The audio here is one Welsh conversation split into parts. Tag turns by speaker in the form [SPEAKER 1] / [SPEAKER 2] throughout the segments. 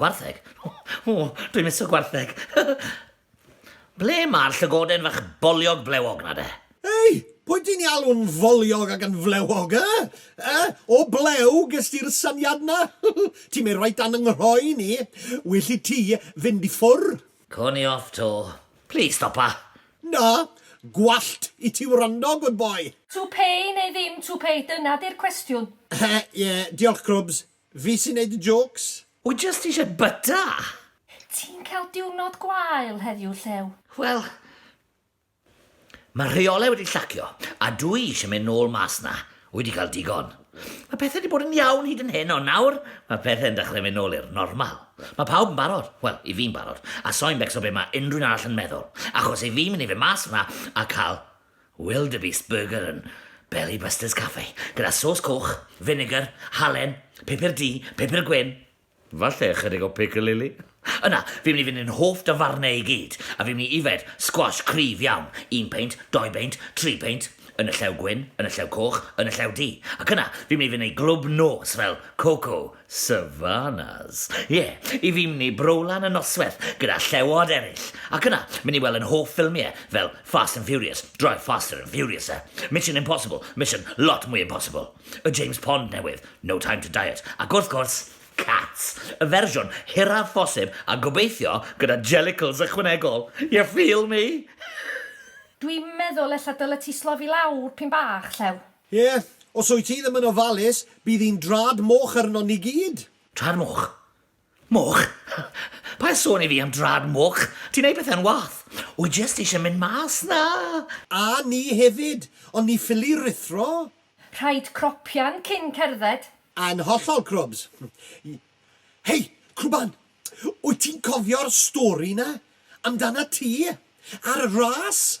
[SPEAKER 1] Gwartheg? O, dwi'n miso gwartheg. Ble mae'r llygoden fach boliog blewog na de? Ei! Pwy
[SPEAKER 2] ti'n alw'n foliog ac yn flewog, e? E? O blew ges ti'r syniad na? Ti'n mynd reit dan 'y nghroen i. Well i ti fynd i ffwrdd. Co ni off 'to.
[SPEAKER 1] Plis stopa! Na!
[SPEAKER 2] Gwallt i ti wrando, good boy! Tupei neu ddim
[SPEAKER 3] tupei, dyna 'di'r cwestiwn. He, ie, diolch
[SPEAKER 2] Crwbs. Fi sy'n neud y jôcs! Wy jyst ishe
[SPEAKER 1] byta! Ti'n
[SPEAKER 3] cael diwrnod gwael heddiw, Llew? Wel,
[SPEAKER 1] mae rheolau wedi llacio, a dw i eisiau mynd nôl mas 'na. Wy 'di cael digon. Mae pethau 'di bod yn iawn hyd yn hyn, ond nawr mae pethau'n dechrau mynd nôl i'r normal. Mae pawb yn barod, wel, i fi'n barod, a soi'n becso be mae unrhyw'n arall yn meddwl, achos i fi mynd i fynd mas 'na a cael Wildebeest Burger yn Belly Busters Cafe, gyda sôs coch, finegr, halen, pupur du, pupur gwyn. Falle ychydig o picilili? Yna, fi'n mynd i fynd i'n hoff dafarnau i gyd, a fi'n mynd i yfed sgwash cryf iawn, un peint, dou beint, tri peint, yn y llew gwyn, yn y llew coch, yn y llew du, ac yna, fi'n mynd i fynd i glwb nos fel Coco Savanas. Ie, i fi myn i Browlan y nosweth gyda llewod eryll, ac yna myn i wel yn hoff ffilmie fel Fast and Furious, Drive Faster and Furiouser, Mission Impossible, Mission lot mwy impossible, y James Pond newydd, No Time to Diet, ac wrth gwrs, Cats, y fersiwn hiraf phosib a gobeithio gyda jellicles ychwanegol, you feel me? Dwi'n
[SPEAKER 3] meddwl ella dylet ti slofi lawr p'un bach, Llew. Ie, os wyt ti ddim
[SPEAKER 2] yn ofalus, bydd hi'n drad moch arnon ni gyd! Drad moch?
[SPEAKER 1] Moch? Paid sôn i fi am drad moch! Ti'n neud pethe'n wath! Wy jyst eisiau mynd mas 'na! A ni
[SPEAKER 2] hefyd, ond ni ffili ruthro! Rhaid
[SPEAKER 3] cropian cyn cerdded! Yn hollol,
[SPEAKER 2] Crwbs! Hei, Crwban! Wyt ti'n cofio'r stori 'na amdanat ti a'r ras?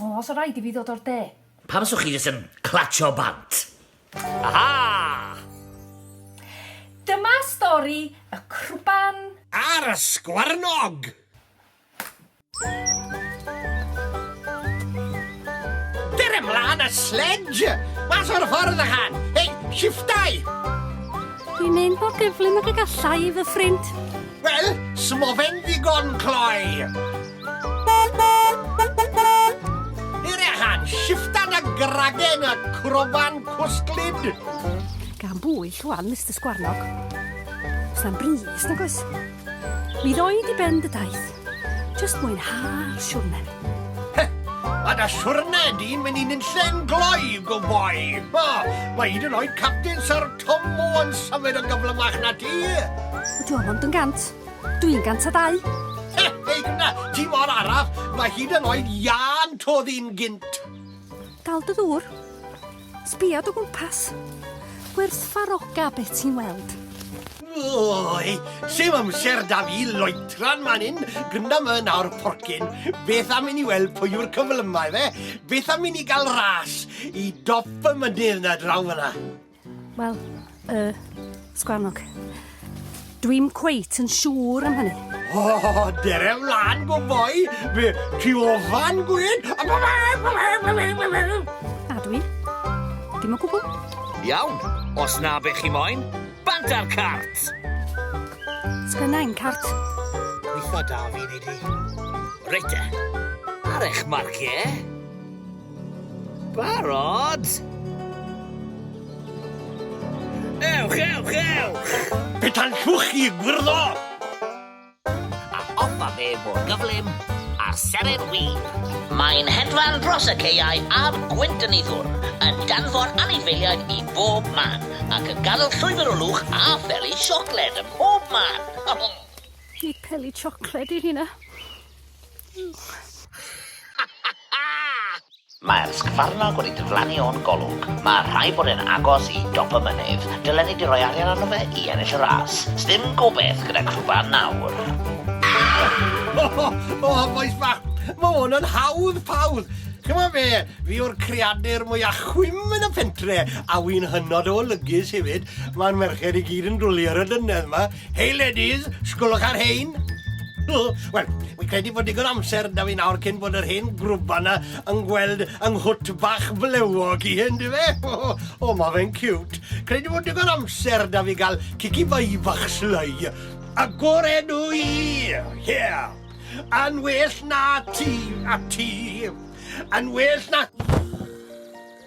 [SPEAKER 3] O, sa rhaid i fi ddod o'r de. Pam fyswch chi jyst yn
[SPEAKER 1] clatsio bant? Aha!
[SPEAKER 3] Dyma stori y crwban. A'r
[SPEAKER 2] ysgwarnog! Ger ymlaen a sledge! Mas o'r ffordd ychan! Hei, shiftau!
[SPEAKER 3] Dwi'n mynd mor gyflym ag y gallai i fy ffrind. Wel,
[SPEAKER 2] smofen ddigon cloi! Irehan, shiftan a gragen a crofan cwsglyd. Gan
[SPEAKER 3] bwy, llwan, Mr Sgwarnog? Os na'n bris, nag oes? Mi ddoi di ben dy daith. Just mwynhau'r siwrne. He,
[SPEAKER 2] a da siwrne di'n mynd i'n unllen gloi, go boi. O, mae hyd yn oed Captain Sir Tom Moore yn symud yn gyflymach na ti. Dwi'n ond yn
[SPEAKER 3] gant. Dwi'n 102. He, hei hynna,
[SPEAKER 2] ti mor araf, mae hyd yn oed Ian todd i'n gynt. Dal dy
[SPEAKER 3] ddŵr. Sbia dy gwmpas. Gwerthfaroga beth ti'n weld. Oi,
[SPEAKER 2] sy'n amser da fi loetran man hyn, gynda my nawr porcyn. Beth am i ni weld pwy yw'r cyflymau fe? Beth am i ni gael ras i dop y mynydd na draw fyna? Wel,
[SPEAKER 3] y sgwarnog. Dwi'n cweit yn siŵr am hynny. O, oh, dere
[SPEAKER 2] wlad go fwy, fe ti ofan gwyd.
[SPEAKER 3] A dwi? Dim o gwbl. Iawn,
[SPEAKER 1] os na be chi moyn, bant ar cart.
[SPEAKER 3] Sgynnau'n cart. Gweitha
[SPEAKER 2] da fi, Nidi. Reit e.
[SPEAKER 1] Ar eich marciau. Barod? Ewch, ewch, ewch! Petan llwch
[SPEAKER 2] chi, gwirdo!
[SPEAKER 1] A offa fe fod gyflym a seren wir. Mae'n hedfan dros y caeau a'r gwynt yn ei ddwr, yn danfon anifeiliaid i bob man, ac yn gadel llwybr o lwch a pheli siocled ym mhob man. Nid
[SPEAKER 3] peli siocled yw hynna.
[SPEAKER 1] Mae'r sgfarnog wedi diflannu o'n golwg. Mae rhaid bod e'n agos i dop y mynydd. Dylen ni 'di rhoi arian arno fe i ennill y ras. Sdim gobeth gyda crwban nawr.
[SPEAKER 2] O, bois fach, mae hwn yn hawdd pawdd! Ch'mo' fe, fi yw'r creadur mwya chwim yn y pentre, a wi'n hynod o olygus hefyd. Ma'r merched i gyd yn dwli ar y dynnedd 'ma. Hey ladies, sgwlwch ar hein. Wel, fi'n credu bod digon amser da fi nawr cyn bod yr hen grwba na yn gweld yng nghwt bach flewog i hyn, di fe? O, oh, mae fe'n cute. Credu bod digon amser da fi gael cici fai fach slai. Agored o i! Yeah! Yn well na ti, a ti. Yn well na...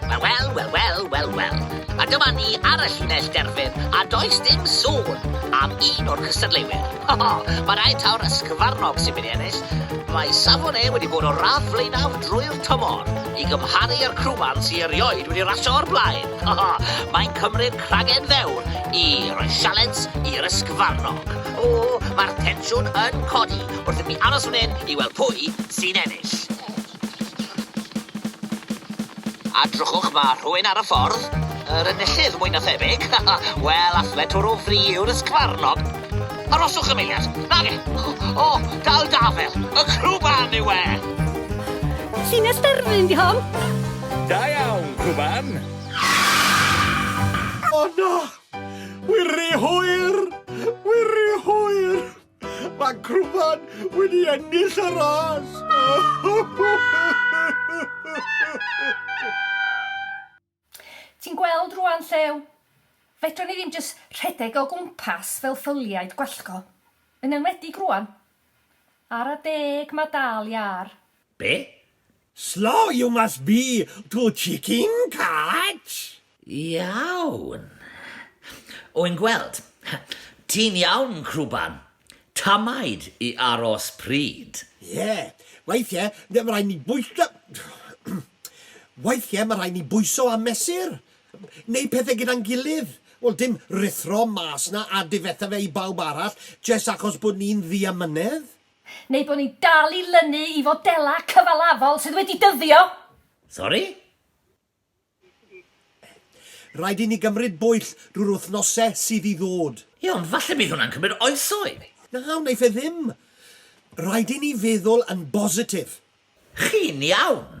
[SPEAKER 1] Wel, wel, wel, wel, wel, wel. A dyma ni ar y llinell derfyn, a does dim sôn am un o'r cystadleuwyr. Ho, ho, mae rhaid taw'r ysgyfarnog sy'n mynd i ennill. Mae safon e wedi bod o'r radd flaenaf drwy'r tymor, i gymharu â'r crwban sy'n erioed wedi rasio o'r blaen. Ho, ho, mae'n cymryd cragen fewr i roi sialens i'r ysgyfarnog. O, mae'r tensiwn yn codi wrth i mi aros fan hyn i weld pwy sy'n ennill. A drychwch, ma' rhywun ar y ffordd. Yr enillydd, mwy na thebyg. Wel, alle twrw fri yw'r ysgfarnog. Aroswch am eiliad. Nage! O, dal dafel! Y crwban yw e! Llinell
[SPEAKER 3] derfyn 'di hon. Da
[SPEAKER 4] iawn, crwban!
[SPEAKER 2] O na! Wiriwhir! Wiriwhir! Mae Crwfan wedi ennill y ras!
[SPEAKER 3] Ti'n gweld rwan, Llew? Fedrwn ni ddim jyst rhedeg o gwmpas fel ffyliaid gwallgo. Yn enwedig rwan. Ara deg mae dal iâr. Be?
[SPEAKER 1] Slow
[SPEAKER 2] you must be to chicken catch! Iawn.
[SPEAKER 1] Wn gweld. Ti'n iawn, Crwban? Tamaid i aros pryd. Ie.
[SPEAKER 2] Weithie mae rhaid ni bwyso Weithie mae rhaid ni bwyso a mesur. Neu pethe gyda'n gilydd. Wel, dim ruthro mas 'na a difetha fe i bawb arall jest achos bod ni'n ddiamynedd. Neu bod ni'n
[SPEAKER 3] dal i lynu i fodelau cyfalafol sydd wedi dyddio? Sori?
[SPEAKER 2] Rhaid i ni gymryd bwyll drwy'r wythnosau sydd i ddod. Ie, ond falle bydd hwnna'n
[SPEAKER 1] cymryd oesoedd. Na, wnaiff e ddim.
[SPEAKER 2] Rhaid i ni feddwl yn bositif. Chi'n
[SPEAKER 1] iawn.